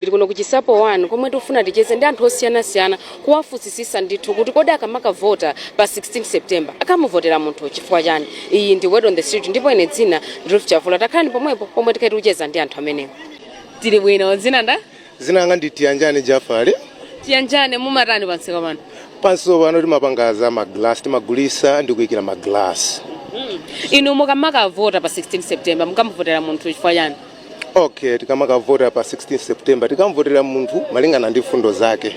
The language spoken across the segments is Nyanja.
Tili kuno ku Chinsapo 1 komwe tikufuna ticheze ndi anthu osiyanasiyana kuwafunsisisa ndithu kuti kodi akamakavota pa 16 September akamuvotera munthu chifukwa chani? Iyi ndi Word on the Street ndipo ine dzina ndi Ruth Chavula. Takhalani pomwepo pomwe tikhale tikucheza ndi anthu amenewa. Tili bwino, dzina ndani? Dzina langa ndi Tiyanjane Jafali. Tiyanjane, mumatani pamsika pano? Pansika pano timapanga za ma glass, timagulitsa ndi kuikira ma glass. Inu mukamakavota pa 16 September mukamuvotera munthu chifukwa chani? okay tikamakavota pa 16 september tikamvotera munthu malingana ndi mfundo zake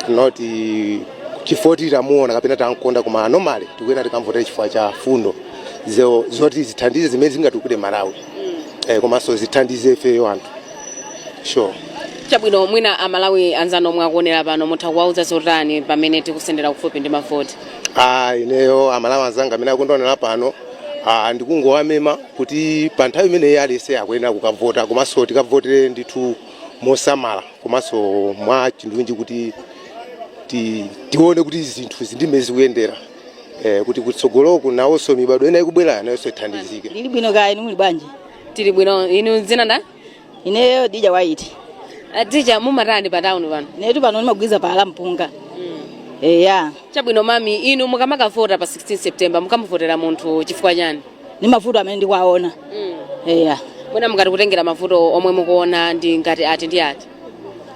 not eh, chifukwa kuti tamuona kapena tamkonda koma on a normal tikuyenera tikamvotera chifukwa cha mfundo zo- zoti zithandize zimene zingatukule malawi eh, komanso zithandize ifeyo anthu sure chabwino mwina amalawi anzanu omwe akuonera pano mutha kuwauza zotani pamene tikusendera kufupi ndi mavoti Ah, ineyo amalawi anzanga amene akundionera pano ah, ndikungowamema kuti pa nthawi imeneyi aliyense akuyenera kukavota komanso tikavotere ndithu mosamala komanso mwa chindunji kuti ti- tione kuti zinthu zili ndi mmene zikuyendera eh, kuti kutsogoloku nawonso mibadwo ina ikubwerayo nayonso ithandizike Ndili bwino kaya inu muli bwanji? Tili bwino. Inu dzina nda? ineyo dija waiti adija mumatani pa town pano netu pano ndimagulitsa phala la mpunga eya chabwino mami inu mukamakavota pa 16 september mukamuvotera munthu chifukwa chani ndi mavuto amene ndikuwaona eya mwina mukati kutengera mavuto omwe mukuona ndi ngati ati ndi ati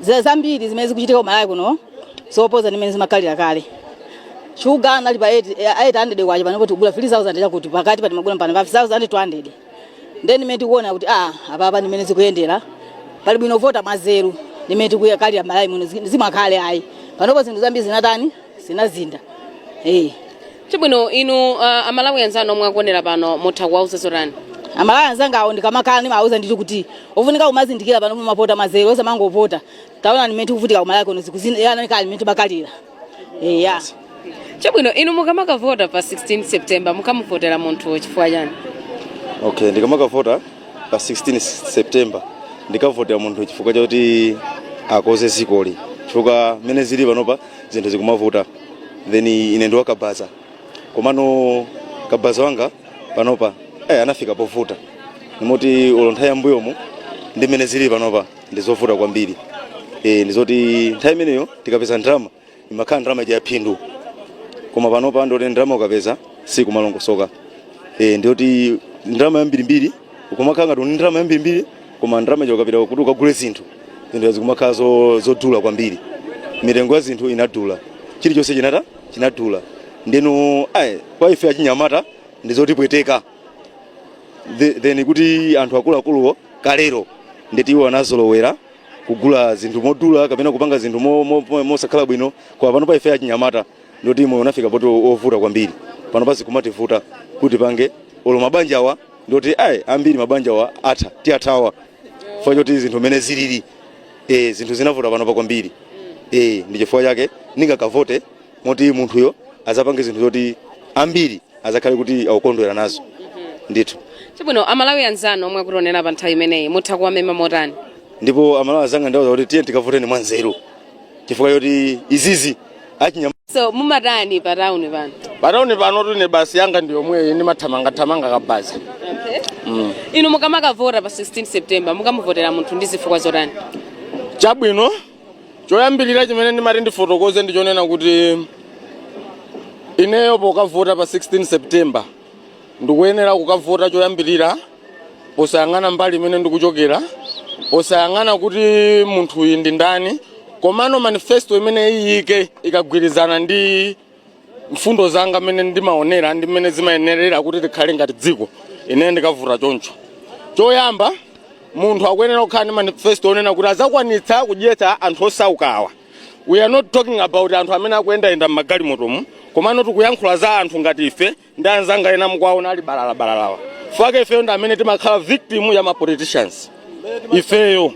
zira zambiri zimene zikuchitika kumalawi kuno zoposa ndi mmene zimakhalira kale shuga anali pa 8 800 kwacha pano kuti kugula 3000 chakuti pakati pati magula pano pa 5200 ndiye ndi mmene tikuona kuti a apapa ndi mmene zikuyendera pali bwino vota mwanzeru ndi mmene tikukhalira malawi muno zi- zimakhale ayi panopo zinthu zambiri zinatani zinasintha eh chabwino inu uh, amalawi anzanu omwe akuonera pano mutha kuwauza zotani amalawi anzanga awo ndikamakhala ndimawauza ndithu kuti ofunika kumazindikira pano mumavota mwanzeru osamangovota taona ndi mmene tikuvutika kumalawi kuno zikusiyana kale ndi mmene timakhalira eya chabwino inu mukamakavota pa 16 september mukamuvotera munthu chifukwa chani okay ndikamakavota pa 16 september ndikavotera munthu chifukwa chakuti akonze dzikoli chifukwa mmene zili panopa zinthu zikumavuta then ine ndi wakabaza komano kabaza wanga panopa eh, anafika povuta ndi moti olo nthawi yambuyomu ndi mmene zili panopa ndizovuta kwambiri e, ndizoti nthawi imeneyo tikapeza ndalama imakhala ndalama ya phindu koma panopa ndoti ndalama ukapeza sikumalongosoka e, ndiyoti ndalama yambirimbiri ukumakhala ngati uli ndalama yambirimbiri koma ndalama ija ukapita kuti ukagule zinthu zinthu zikumakhala zo- zodula kwambiri mitengo ya zinthu inadula chilichonse chinata chinadula ndeno ayi kwa ife achinyamata ndizotipweteka The- then kuti anthu akuluakuluwo kalero nde kuti iwo anazolowera kugula zinthu modula kapena kupanga zinthu mo- mo- mo- mosakhala bwino koma pano pa ife achinyamata nde kuti moyo unafika poti ovuta kwambiri pano pa zikumativuta kuti tipange olo mabanja awa ndoti ayi ambiri mabanja awa atha tiwathawa chifukwa choti zinthu mmene zilili eh, zinthu zinavuta pano pa kwambiri eh, ndi chifukwa chake ndingakavote moti munthuyo azapange zinthu zoti ambiri azakhale kuti akukondwera nazo ndithu chabwino amalawi anzanu omwe akutionera pa nthawi imeneyi mutha kuwamema motani ndipo amalawi anzanga ndawauza kuti tiye tikavoteni mwanzeru chifukwa choti izizi achinyama so mumatani pa tauni pano patauni pano ine business yanga ndi yomweyi ndimathamangathamanga kabaza mm. inu mukamakavota pa 16 september mukamuvotera munthu ndi zifukwa zotani chabwino choyambirira chimene ndimati ndifotokoze ndi chonena kuti ineyo pokavota pa 16 september ndikuyenera kukavota choyambirira posayang'ana mbali imene ndikuchokera posayang'ana kuti munthuyi ndi ndani komano manifesto imene aike ikagwirizana ndi mfundo zanga mmene ndimaonera ndi mmene zimayenerera kuti tikhale ngati dziko ine ndikavota choncho choyamba munthu akuyenera kukhala ndi manifesto onena kuti azakwanitsa kudyetsa anthu osaukawa we are not talking about anthu amene akuyendayenda m'magalimotomu komano tikuyankhula za anthu ngati ife ndi anzanga ena mukuwaonawa ali balalabalalawa chifukwa chake ifeyo ndi amene timakhala victim ya ma politicians ifeyo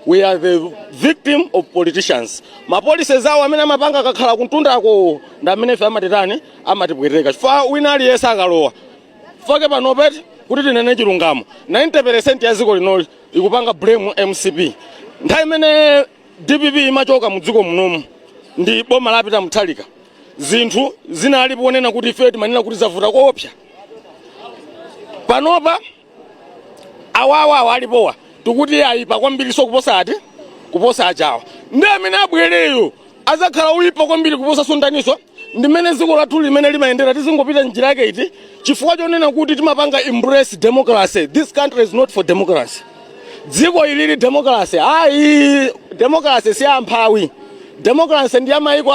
we are the victim of politicians mapolisi zawo amene amapanga akakhala kuntundako ndi amene ife amatitani amatipweteka chifukwa wina aliyense akalowa chifukwa chake panopa eti kuti tinene chilungamo 90% ya dziko linoli ikupanga blame mcp nthawi imene dpp imachoka mu dziko munomu ndi boma la peter mutharika zinthu zinalipo zonena kuti ifeyo timanena kuti zavuta koopsa panopa awawawa alipowa tikuti ayipa kwambiriso kuposa ati kuposa ajawa ndi amene abwereyo azakhala oyipa kwambiri kuposa so ndaniso ndimene dziko lathuli limene limayendera tizingopita njira yake iti chifukwa chonena kuti timapanga embrace democracy this country is not for democracy dziko ilili democracy ayi democracy si ya amphawi democracy ndi ya mayiko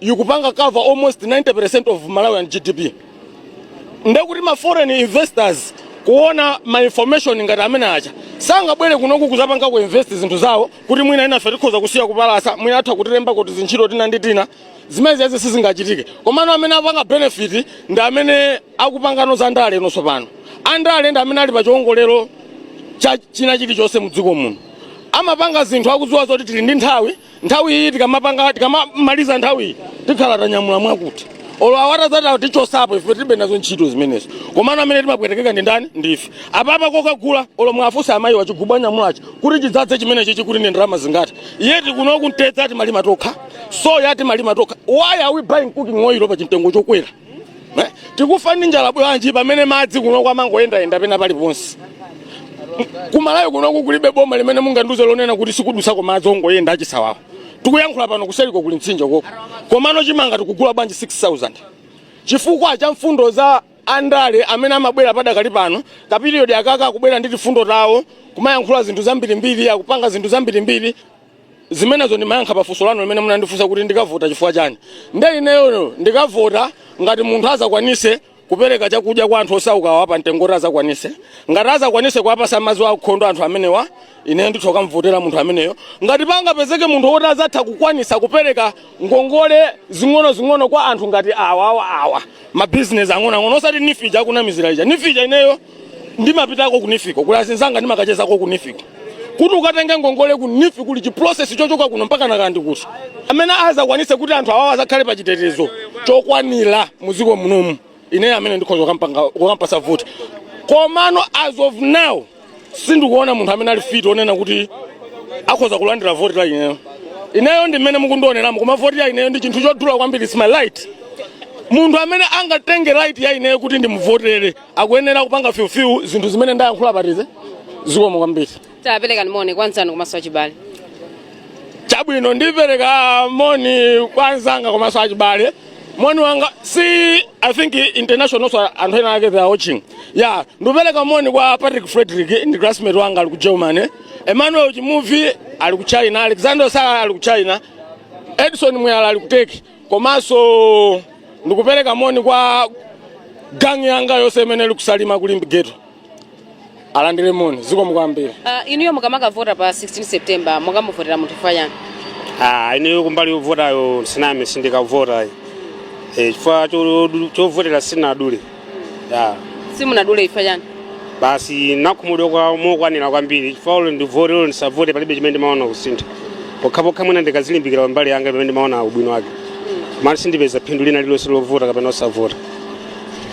ikupanga cover almost 90% of malawian gdp nde kuti ma foreign investors kuona ma information ngati amene aja sangabwere kunoku kuzapanga ku invest zinthu zawo kuti mwina inafe tikhoza kusiya kupalasa mwina atha kutilembako tizintchito tina ndi tina zimene zizo sizingachitike komano amene apanga benefit ndi amene akupanganso za ndale inonso pano andale ndi amene ali pa chiwongolero cha china chilichonse mu dziko muno amapanga zinthu akudziwa zoti tili ndi nthawi nthawi iyi tikamapanga tikamamaliza nthawi iyi tikhala tanyamula mwakuti olo awatazatawo tichosapo ife tilibe nazo ntchito zimenezo komano amene timapwetekeka ndi ndani ndife apapa kokagula olo mwafunsa amayi wachigubu anyamulachi kuti chidzadze chimenechi chikuti ndi ndalama zingati yet kuno mtedza timalima tokha soya timalima tokha why are we buying cooking oil pa chimtengo chokwera Eh, tikufa ndi njala bwanji pamene madzi kuno amangoyendayenda pena paliponse kumalawi kunoku kulibe boma limene mungandiuze lonena kuti sikudutsako madzi ongoyenda achisawawa tikuyankhula pano kuseliko kuli mtsinje koko komano chimanga tikugula bwanji 6000 chifukwa cha mfundo za andale amene amabwera padakali pano kapiriyodi akaka akubwera ndi tifundo tawo kumayankhula zinthu zambirimbiri akupanga zinthu zambirimbiri zimenezo ndimayankha pa funso lanu limene munandifunsa kuti ndikavota chifukwa chani nde ineyono ndikavota ngati munthu azakwanise kupereka chakudya kwa anthu osaukawa pa mtengo kuti azakwanise ngati azakwanise kuwapasa madzi aukhondo anthu amenewa ine nditha kukamvotera munthu ameneyo ngati pangapezeke munthu woti azatha kukwanisa kupereka ngongole zing'onozing'ono kwa anthu ngati awa awa awa mabizinesi ang'onoang'ono osati NEEF ija akunamizira ija NEEF ija ineyo ndimapitako ku NEEF-ko kuli azinzanga ndimakachezako ku NEEF-ko kuti ukatenge ngongole ku NEEF kuli chiprocess chochoka kuno mpaka nakandi kuti amene azakwanise kuti anthu awawa azakhale pa chitetezo chokwanira muziko munomu ineyo amene ndikhoza kukampanga- kukampasa voti komano as of now sindikuona munthu amene ali fit onena kuti akhoza kulandira voti la ineyo ineyo ndi mmene mukundioneramu koma voti ya ineyo ndi chinthu chodula kwambiri its my right munthu amene angatenge right ya ineyo kuti ndimuvotere akuyenera kupanga fulfill zinthu zimene ndayankhulapa tize zikomo kwambiri taperekani moni kwa anzanu komanso achibale chabwino ndipereka moni kwa anzanga komanso achibale moni wanga si i think international so anthu ena ake they are watching ya ndikupereka moni kwa patrick frederick ndi classmate wanga ali ku germany emmanuel chimuvi ali ku china alexander sala ali ku china edison muyala ali ku turkey komanso ndikupereka moni kwa gangi yanga yonse imene ili ku salima ku limbe ghetto alandire moni zikomo kwambiri Uh, inuyo mukamakavota pa 16 september mukamuvotera munthu chifukwa chani Ah, ineyo kumbali yovotayo siname sindikavota eh, chifukwa cho- chovotera sinadule ya simunadule chifukwa chani basi nakhumudwa mokwanira kwambiri chifukwa olo ndivote olo ndisavote palibe chimene ndimaona kusintha pokhapokha mwina ndikazilimbikira kumbali yanga pamene ndimaona ubwino wake mani sindipeza phindu lina lilonse lovota kapena osavota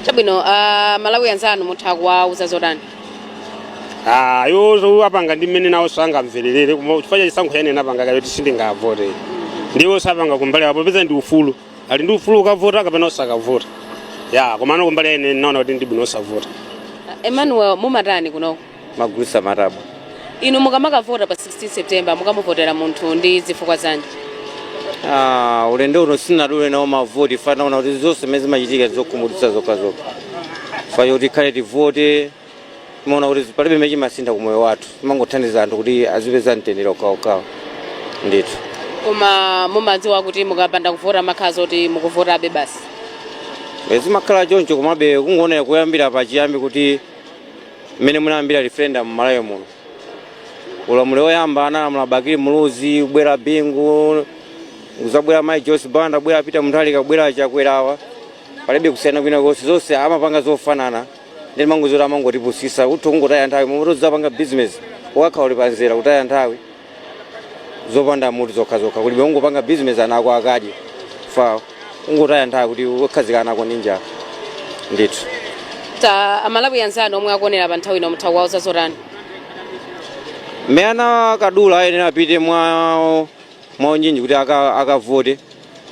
chabwino ah, malawi anzanu mutha kuwauza zotani Ah, yo zo apanga ndi mmene nawo sangamvererere koma chifukwa cha chisankho chimene anapanga kale kuti sindingavote ndiwo sapanga kumbali yawo poti ndi ufulu ali ndi ufulu ukavota kapena osakavota ya komano kumbali ine naona kuti ndibwino osavota emmanuel mumatani kunoko timagulisa matabwa inu mukamakavota pa 16 september mukamuvotera munthu ndi zifukwa zanji Ah, ulendo uno sindinadule nawo mavoti fa ndinaona kuti zonse zimene zimachitika zokhumudwitsa zokhazokha fa cho tikhale tivote timaona kuti palibe chimene chimasintha ku moyo wathu timangothandiza anthu kuti azipeza mtendere okhaokhawo ndithu koma mumadziwa kuti mukapanda kuvota mumakhala zoti mukuvotabe basi E, zimakhala choncho komabe kungoonera kuyambira pachiyambi kuti mmene inayambira referendum m'malawi muno ulamuliro woyamba analamula bakili muluzi kubwera bingu kuzabwera mayi joyce banda kubwera peter mutharika kubwera chakwerawa palibe kusiyana kwina konse zonse amapanga zofanana nde ndimangoona kuti amangotipusisa kuti kungotaya nthawi mmalo moti uzipanga bizinesi ukakhala uli pamzere kutaya nthawi zopanda mutu zokhazokha kuli bwino ungopanga bizinesi ana ako akadye fa ungotaya nthawi kuti ukhazika ana ako ndi njala ndithu ta amalawi anzanu omwe akuonera pa nthawi ino mutha kuwauza zotani amene anakadula ayenera apite mwa mwaunyinji kuti akavote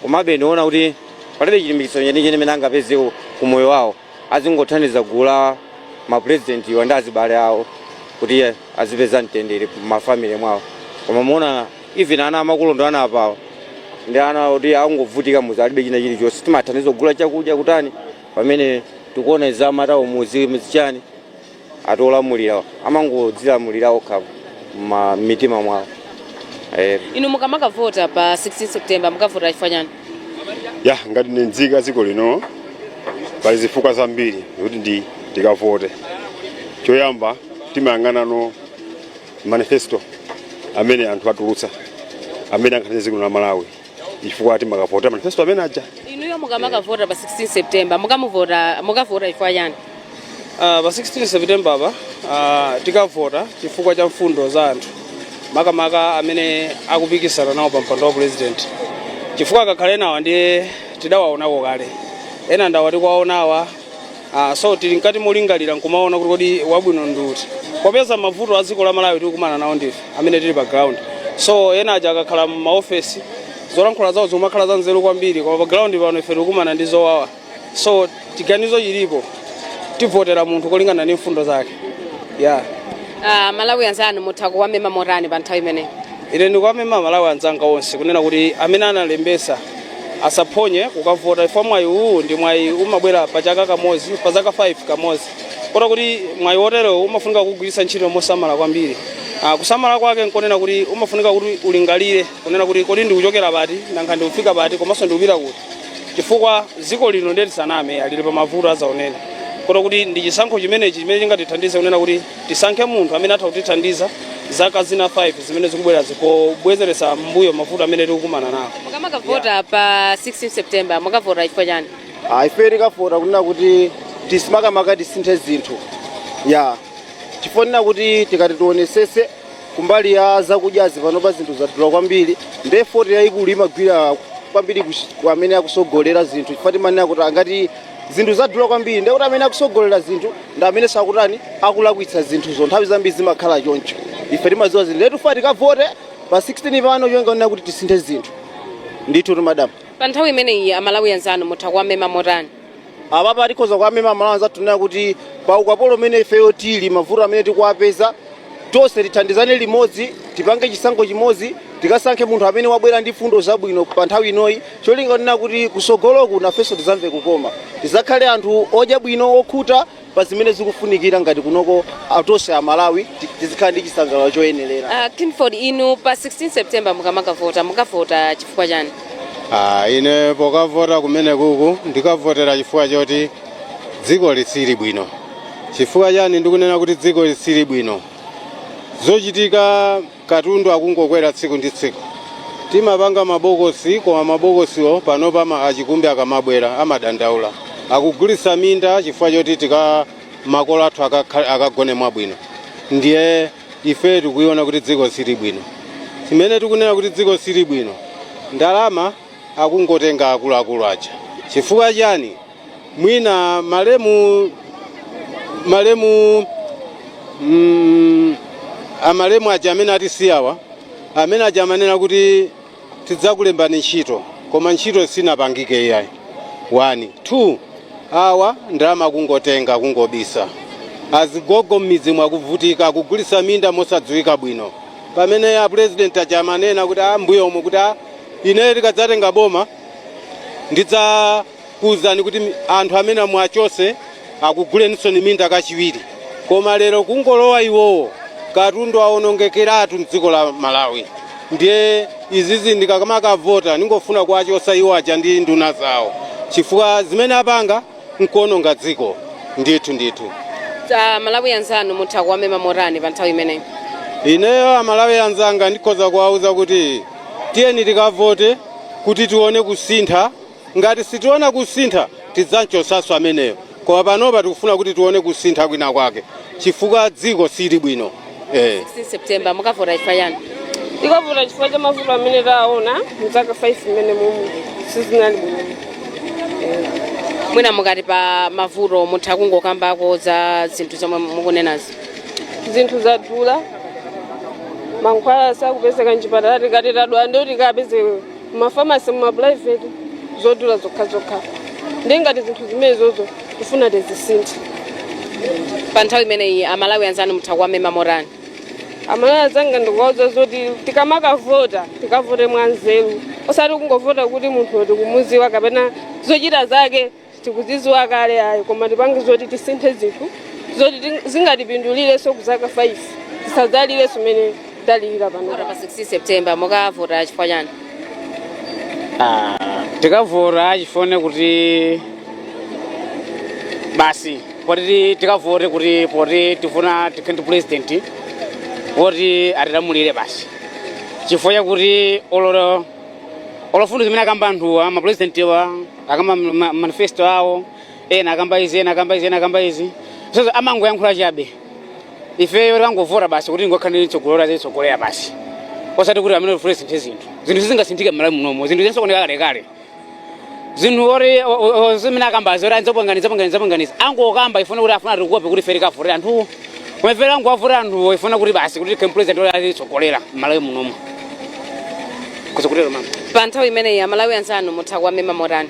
komabe ndiona kuti palibe chilimbikitso chenicheni chimene angapeze ku moyo wawo azingothandiza gulu la mapurezidentiwa ndi azibale awo kuti azipeza mtendere mafamily mwawo koma muona even ana amakolo ndi ana apawo ndi ana kuti akungovutika m'mudzi alibe china chilichonse timathandiza kugula chakudya kutani pamene tikuona zamatauni m'mudzi chani ati olamulirawa amangodzilamulira okha ma- m'mitima mwawo eh, inu mukamakavota pa 16 september mukavota chifukwa chani ya ngati ine nzika ya dziko lino pali zifukwa zambiri zoti ndi ndikavote choyamba timayang'anano manifesto amene anthu atulutsa amene angakhalire dziko la malawi chifukwa timakavotera manifesto amene aja inuyo mukamakavota pa 16 september mukamuvota mukavota chifukwa chani Ah, pa 16 september apa ah, tikavota chifukwa cha mfundo za anthu makamaka amene akupikisana nawo pa mpando wa president chifukwa akakhala enawa ndiye tidawaonako kale ena ndi awa tikuwaonawa Ah, so tili mkati molingalira nkumaona kuti kodi wabwino ndi uti popeza mavuto a dziko la malawi tikukumana nawo ndife amene tili pa ground so ena aja akakhala m'maofesi zolankhula zawo zikumakhala za nzeru kwambiri koma pa ground pano ife tikukumana ndi zowawa so chiganizo chilipo tivotera munthu kolingana ndi mfundo zake yeah Amalawi anzanu mutha kuwamema motani pa nthawi imeneyi ine ndikuwamema amalawi anzanga onse kunena kuti amene analembesa asaphonye kukavota chifukwa mwayi uwu ndi mwayi umabwera pa chaka kamodzi pa zaka 5 kamodzi kota kuti mwayi woterewo umafunika kugwiritsa ntchito mosamala kwambiri Ah, kusamala kwake nkonena kuti umafunika kuti ulingalire kunena kuti kodi ndikuchokera pati nanga ndikufika pati komanso ndikupita kuti chifukwa dziko lino ndeti ndisaname lili pa mavuto azaoneni kota kuti ndi chisankho chimenechi chimene chingatithandize kunena kuti Tisankhe munthu amene atha kutithandiza zaka zina 5 zimene zikubwerazi pobwezeretsa m'mbuyo mavuto amene tikukumana nawo. Mukamakavota pa 16 September mukavota chifukwa chani? Ah, ife tikavota kunena kuti tisi- makamaka tisinthe zinthu ya chifukwa kunena kuti tikati tionesese kumbali ya zakudyazi panopa zinthu zadula kwambiri nde foti yayikulu imagwira kwambiri kuch- ku amene akusogolera zinthu chifukwa timanena kuti angati zinthu zadula kwambiri ndiye kuti amene akusogolera zinthu ndi amene sakutani akulakwitsa zinthuzo nthawi zambiri zimakhala choncho ife timadziwa zinthu ndiye tifuna tikavote pa 16 pano cholinga kunena kuti tisinthe zinthu ndithu madam pa nthawi imeneyi amalawi anzanu mutha kuwamema motani apapa tikhoza kuwamema amalawi anzathu kunena kuti pa ukapolo umene ifeyo tili mavuto amene tikuwapeza Tonse tithandizane limodzi, tipange chisankho chimodzi, tikasankhe munthu amene wabwera ndi fundo zabwino pa nthawi inoyi, cholinga kunena kuti kusogoloku nafenso tizamve kukoma, tizakhale anthu odya bwino, okhuta pa zimene zikufunikira ngati kunoko a- tonse a Malawi ti- tizikhala ndi chisangalalo choyenerera. Ah, Clifford inu pa 16 September mukamakavota mukavota chifukwa chani? Ah, ine pokavota kumene kuku ndikavotera chifukwa choti dziko lisili bwino chifukwa chani ndikunena kuti dziko lisili bwino zochitika katundu akungokwera tsiku ndi tsiku timapanga mabokosi koma mabokosiwo panopa ama- achikumbi akamabwera amadandaula akugulitsa minda chifukwa choti tika makolo athu akakha- akagone mwabwino ndiye ife tikuiona kuti dziko silili bwino chimene tikunena kuti dziko silili bwino ndalama akungotenga akuluakulu aja chifukwa chani mwina malemu malemu mm, amalemu aja amene atisiyawa amene aja amanena kuti tidzakulembani ntchito koma ntchito sinapangike iyayi one two awa ndalama kungotenga kungobisa azigogo m'midzi mu akuvutika kugulisa minda mosadziwika bwino pamene a president aja amanena kuti a mbuyomu kuti a ineyo tikadzatenga boma ndidza kuuzani kuti anthu amene muwachotse akuguleninsoni minda kachiwiri koma lero kungolowa iwowo katundu wawonongekeratu mdziko la malawi ndiye izizi ndikamakavota ndingofuna kuwachosa iwowaja ndi nduna zawo chifukwa zimene apanga nkuononga dziko ndithu ndithu Amalawi anzanu mutha kuwamema motani pa nthawi imeneyi ineyo amalawi anzanga ndikhoza kuwauza kuti tiyeni tikavote kuti tione kusintha Ngati sitiona kusintha, tidzam'chotsanso ameneyo. Koma panopa tikufuna kuti tione kusintha kwina kwake chifukwa dziko silili bwino. e. 16 September, Mukavota Chifukwa Chani? Tikavota chifukwa cha mavuto amene taona m'zaka 5 zimenezi momwe sizinali bwino. Eh. Mwina mukati pa mavuto mutha kungokambako za zinthu zomwe mukunenazi. Zinthu zadula, mankhwala sakupezeka m'chipatala tikati tadwala ndiye tikapeze mmafamasi mumapulaiveti zodula zokhazokha ndiye ngati zinthu zimenezozo tifuna tizisinthe pa nthawi imeneyi amalawi anzanu mutha kuwamema motani amalawi anzanga ndikuwauza zoti tikamakavota tikavote mwanzeru osati kungovota kuti munthu tikumuziwa kapena zochita zake tikuzidziwa kale ayi koma tipange zoti tisinthe zinthu zoti ting- zingatipindulirenso kuzaka 5 tisadzalire zimene talira pano pa 16 september mukavota chifukwa chani Ah, tikavota chifone kuti basi poti ti- tikavote kuti poti tifuna tikhale ndi president woti azitilamulira basi chifukwa chakuti ololo mfundo zimene akamba anthuwa mapresidentiwa akamba ma- ma- manifesto awo ena akamba izi ena akamba izi ena akamba izi sozo amangoyankhula chabe ifeyo tikangovota basi kuti tingokhala ndi mtsogoleri azitsogolera basi osati kuti amene ufule sinthe zinthu zinthu sizingasinthike mmalawi munomo zinthu zinasokonekera kalekale zinthu ori o- o- o- zimene akamba zoti anzapanganiza panganiza panganiza angokamba chifukwa kuti afuna atikope kuti ife tikavotere anthuwo koma ife tingowavotera anthuwo chifukwa kuti basi kuti tikhale ndi pulezidenti oti azitsogolera mmalawi munomo kuzukutero mama pa nthawi imeneyi amalawi anzanu mutha kuwamema motani